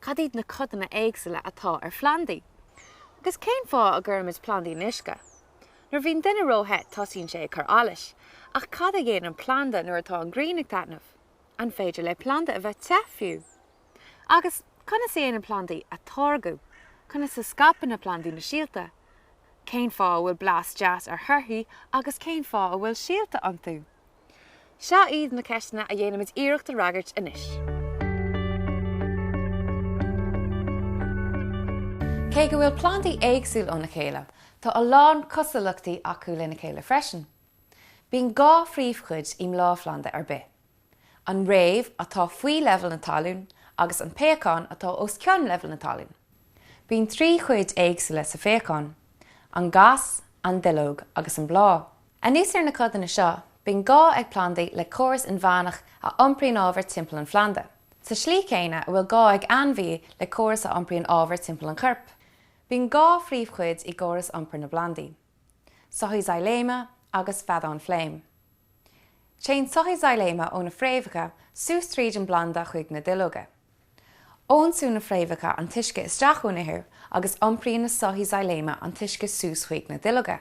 Cad iad na codanna éagsúla atá ar phlandaí? Agus cén fáth a gcuirimid plandaí in uisce? Nuair a bhíonn duine ró-the tosaíonn sé ag cur allais. Ach cad a dhéanann planda nuair atá an ghrian ag taitneamh? An féidir le planda a bheith te fiú? Agus conas a dhéanann plandaí atáirgeadh? Conas a scaipeann na plandaí na síolta? Cén fáth a bhfuil blas deas ar thorthaí agus cén fáth a bhfuil síolta iontu? Seo iad na ceisteanna a dhéanfaimid iarracht a fhreagairt anois. Cé go bhfuil plandaí éagsúil óna chéile, tá a lán cosúlachtaí acu lena chéile freisin. Bíonn dhá phríomhchuid i mbláthphlanda ar bith, an fhréamh, atá faoi leibhéal na talún, agus an péacán, atá os cionn leibhéal na talún. Bíonn trí chuid éagsúla sa phéacán, an gas, an duilleog agus an bláth. Anuas ar na codanna seo, bíonn gá ag plandaí le córas inmheánach a iompraíonn ábhar timpeall an phlanda, sa tslí chéanna a bhfuil gá ag ainmhí le córas a iompraíonn ábhar timpeall an choirp. Bíonn dhá phríomhchuid i gcóras iompair na bplandaí, soithí xailéime agus feadáin fléim. Téann soithí xailéime ó na fréamhacha suas tríd an bplanda chuig na duilleoga. Ionsúnn na fréamhacha an t-uisce isteach ón ithir agus iompraíonn na soithí xailéime an t-uisce suas chuig na duilleoga.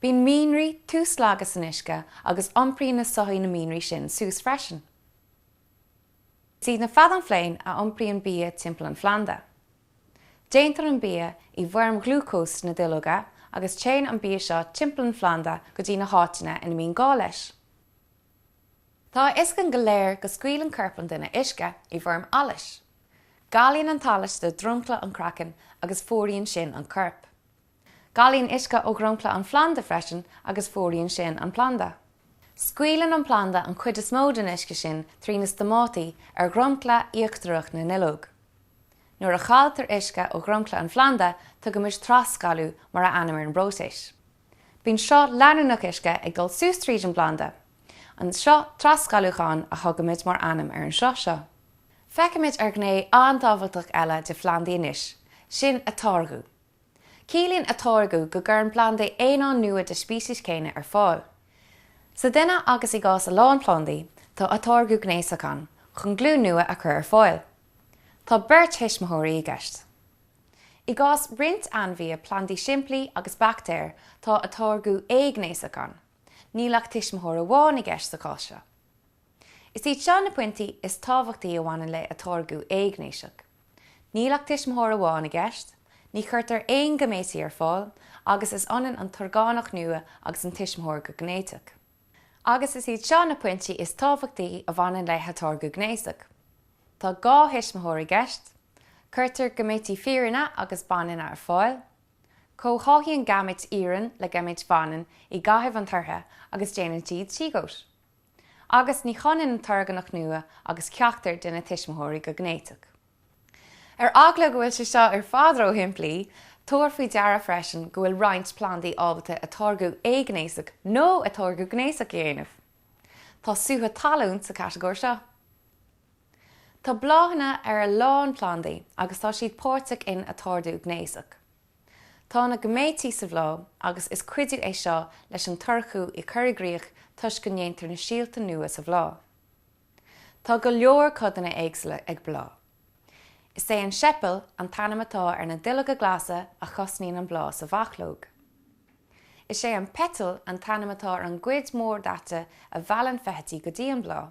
Bíonn mianraí tuaslagtha san uisce agus iompraíonn na soithí na mianraí sin suas freisin. Is iad na feadáin fléim a iompraíonn bia timpeall an phlanda. Déantar an bia i bhfoirm ghlúcóis sna duilleoga agus téann an bia seo timpeall an phlanda go dtí na háiteanna ina mbíonn gá leis. Tá a fhios againn go léir go scaoileann corp an duine uisce i bhfoirm allais. Galaíonn an t-allas de dhromchla an chraicinn agus fuaraíonn sin an corp. Galaíonn uisce ó dhromchla an phlanda freisin agus fuaraíonn sin an planda. Scaoileann an planda an chuid is mó den uisce sin trí na stomátaí ar dhromchla íochtarach na nduilleog. Nuair a chailltear uisce ó dhromchla an phlanda, tugaimid trasghalú mar ainm ar an bpróiseas. Bíonn sruth leanúnach uisce ag dul suas tríd an bplanda. An sruth trasghalúcháin a thugaimid mar ainm ar an sruth seo. Féachaimis ar ghné an-tábhachtach eile de phlandaí anois, sin atáirgeadh. Ciallaíonn atáirgeadh go gcuireann plandaí aonáin nua den speiceas céanna ar fáil. Sa duine agus i gcás a lán plandaí, tá atáirgeadh gnéasach ann chun glúin nua a chur ar fáil. Tá beirt thuismitheoirí i gceist. I gcás roinnt ainmhithe, plandaí simplí agus baictéir, tá atáirgeadh éighnéasach ann. Níl ach tuismitheoir amháin i gceist sa chás seo. Is iad seo na pointí is tábhachtaí a bhaineann le atáirgeadh éighnéasach. Níl ach tuismitheoir amháin i gceist, ní chuirtear aon gaiméití ar fáil agus is ionann an t-orgánach nua agus an tuismitheoir go géiniteach. Agus is iad seo na pointí is tábhachtaí a bhaineann le hatáirgeadh gnéasach. Tá dhá thuismitheoir i gceist. Cuirtear gaiméití fireanna agus baineanna ar fáil. Comhtháthaíonn gaiméit fhireann le gaiméit bhaineann i gcaitheamh an toirchithe agus déanann siad siogót. agus ní hionann an t-orgánach nua agus ceachtar de na tuismitheoirí go géiniteach. Ar eagla go bhfuil sé seo ar fad ró-shimplí, tabhair faoi deara freisin go bhfuil roinnt plandaí ábalta atáirgeadh éighnéasach nó atáirgeadh gnéasach a dhéanamh. Tá sútha talún sa chatagóir seo. Tá bláthanna ar a lán plandaí agus tá siad páirteach in atáirgeadh gnéasach. Tá na gaiméití sa bhláth agus is cuidiú é seo leis an toirchiú a chur i gcrích toisc go ndéantar na síolta nua sa bhláth. Tá go leor codanna éagsúla ag bláth. Is é an seipeal an t-ainm atá ar na duilleoga glasa a chosnaíonn an bláth sa bhachlóg. Is é an peiteal an t-ainm atá ar an gcuid mór daite a mheallann feithidí go dtí an bláth.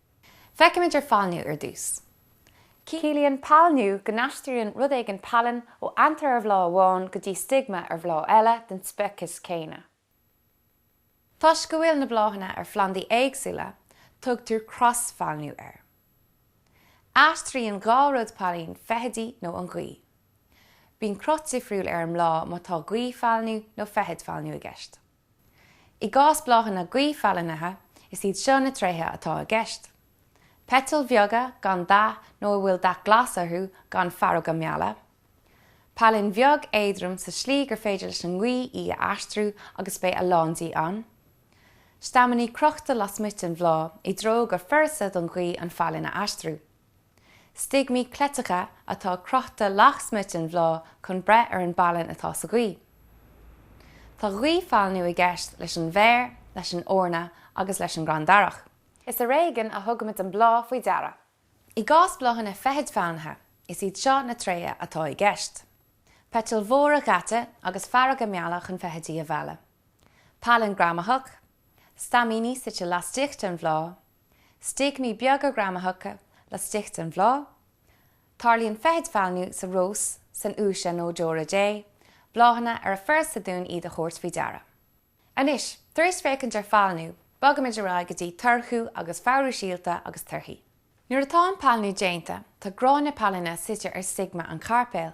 Feicimid ar phailniú ar dtús. Ciallaíonn pailniú go n-aistríonn rud éigin pailin ó antar ar bhláth amháin go dtí stigma ar bhláth eile den speiceas céanna. Toisc go bhfuil na bláthanna ar phlandaí éagsúla, tugtar crosphailniú air. Aistríonn dhá rud pailin, feithidí nó an ghaoth. Bíonn cruth difriúil ar an mbláth má tá gaothphailniú nó feithidphailniú i gceist. I gcás bláthanna gaothphailnithe, is iad seo na tréithe atá i gceist, peitil bheaga gan dath nó a bhfuil dath glas orthu gan faireoga meala, pailin bheag éadrom sa slí gur féidir leis an ngaoth í a aistriú agus beidh a lán di ann, staimíní crochta lasmuigh den bhláth i dtreo gur furasta don ghaoth an phailin a aistriú. Stigmaí cleiteacha atá crochta lasmuigh den bhláth chun breith ar an bpailin atá sa ghaoth. Tá gaothphailniú i gceist leis an bhféar, leis an eorna agus leis an gcrann darach. Is ar éigean a thugaimid an bláth faoi deara. I gcás bláthanna feithidphailnithe, is iad seo na tréithe atá i gceist, peitil mhóra dhaite agus faireoga meala chun feithidí a mhealladh, pailin greamaitheach, staimíní suite laistigh den bhláth, Stigmaí beaga greamaitheacha laistigh den bhláth. Tarlaíonn feithidphailniú sa rós, san fhiúise nó deora Dé, bláthanna ar a furasta dúinn iad a thabhairt faoi deara. Anois, tar éis féachaint ar phailniú, bogaimid ar aghaidh go dtí toirchiú agus fabhrú síolta agus torthaí. Nuair atá an pailniú déanta, tá gráinne pailine suite ar stigma an chairpéil.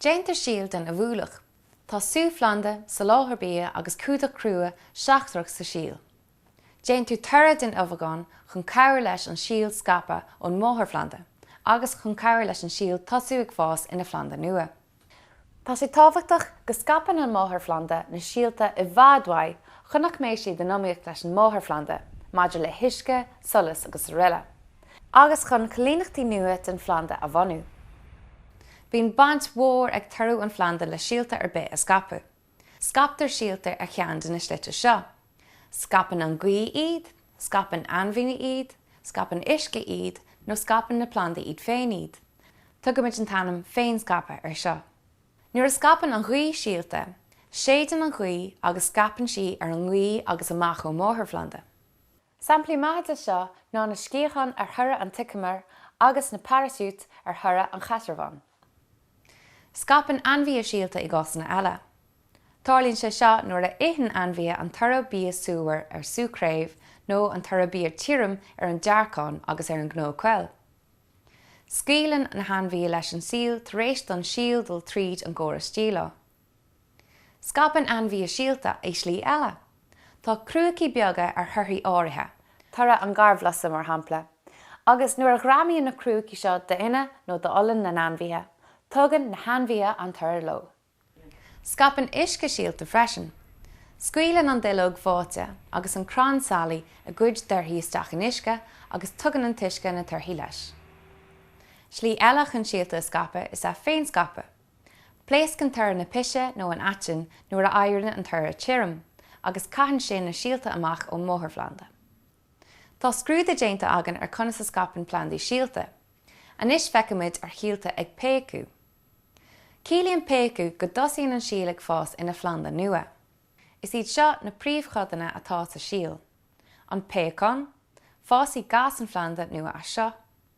Déantar síol den ubhúlach. Tá suthphlanda, soláthar bia agus cumhdach crua seachtrach sa síol. Déantar toradh den ubhagán chun cabhair leis an síol scaipeadh ón máthairphlanda agus chun cabhair leis an síol tosú ag fás ina phlanda nua. Tá sé tábhachtach go scaipeann an máthairphlanda na síolta i bhfad uaidh chun nach mbeidh siad in iomaíocht leis an máthairphlanda maidir le huisce, solas agus araile. agus chun coilíneachtaí nua den phlanda a bhunú. Bíonn baint mhór ag toradh an phlanda le síolta ar bith a scaipeadh. Scaiptear síolta ar cheann de na slite seo, scaipeann an ghaoth iad, scaipeann ainmhíní iad, scaipeann uisce iad, nó scaipeann na plandaí iad féin iad. Tugaimid an t-ainm féinscaipeadh air seo. Nuair a scaipeann an ghaoth síolta, séideann an ghaoth agus scaipeann sí ar an ngaoth agus amach ón máthairphlanda. Samplaí maithe de seo ná na sciatháin ar thoradh an tseiceamair agus na paraisiúit ar thoradh an chaisearbháin. Scaipeann ainmhithe síolta i gcásanna eile. Tarlaíonn sé seo nuair a itheann ainmhithe an toradh bia súmhar ar sú craobh nó an toradh bia tirim ar an dearcán agus ar an gcnó coill. Scaoileann na hainmhithe leis an síol tar éis don síol dul tríd an gcóras díleá. Scaipeann ainmhithe síolta i slí eile. Tá crúicí beaga ar thorthaí áirithe, toradh an gharbhlusa mar shampla, agus nuair a ghreamaíonn na crúicí seo d'fhionnadh nó d'olann na n-ainmhithe, tugann na hainmhithe an toradh leo. Scaipeann uisce síolta freisin. Scaoileann an duilleog bháite agus an crann sailí a gcuid dtorthaí isteach in uisce agus tugann an t-uisce na torthaí leis. Slí eile chun síolta a scaipeadh is ea féinscaipeadh. Pléascann toradh na pise nó an aitinn nuair a éiríonn an toradh tirim, agus caitheann sé na síolta amach ón máthairphlanda. Tá scrúdú déanta againn ar conas a scaipeann plandaí síolta. Anois feicfimid ar shíolta ag péacadh. Ciallaíonn péacadh go dtosaíonn an síol ag fás ina phlanda nua. Is iad seo na príomhchodanna atá sa síol. An péacán, Fásfaidh gas an phlanda nua as seo.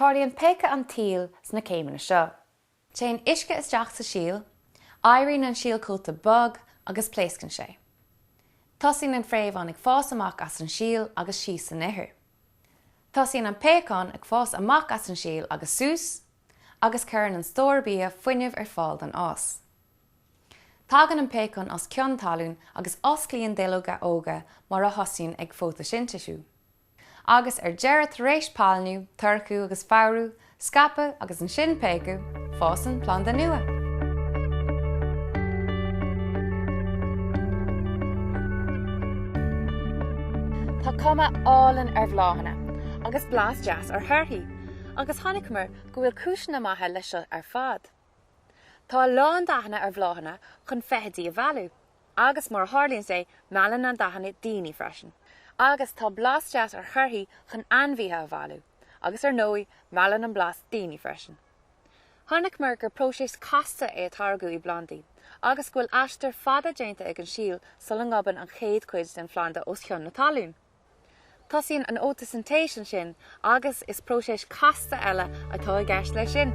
Tarlaíonn péacadh an tsíl sna céimeanna seo. Téann uisce isteach sa síol, éiríonn an síolchóta bog agus pléascann sé. Tosaíonn an fréamhán ag fás amach as an síol agus síos san ithir. Tosaíonn an péacán ag fás amach as an síol agus suas, agus cuireann an stór bia fuinneamh ar fáil don fhás. Tagann an péacán os cionn talún agus osclaíonn duilleoga óga mar a thosaíonn ag fótaisintéisiú. Agus ar deireadh tar éis pailniú, toirchiú agus fabhrú, scaipeadh agus ansin péacadh, fásann planda nua. Tá cuma álainn ar bhláthanna agus blas deas ar thorthaí agus chonaiceamar go bhfuil cúiseanna maithe leis seo ar fad. Tá a lán dathanna ar bhláthanna chun feithidí a mhealladh. Agus, mar a tharlaíonn sé, meallann na dathanna daoine freisin. Agus, tá blas deas ar thorthaí chun ainmhíthe a mhealladh. Agus, ar ndóigh, meallann an blas daoine freisin. Chonaiceamar gur próiseas casta é atáirgeadh i bplandaí, agus go bhfuil aistear fada déanta ag an síol sula ngobann an chéad chuid den phlanda os cionn na talún. Tosaíonn an fhótaisintéis ansin agus is próiseas casta eile atá i gceist leis sin.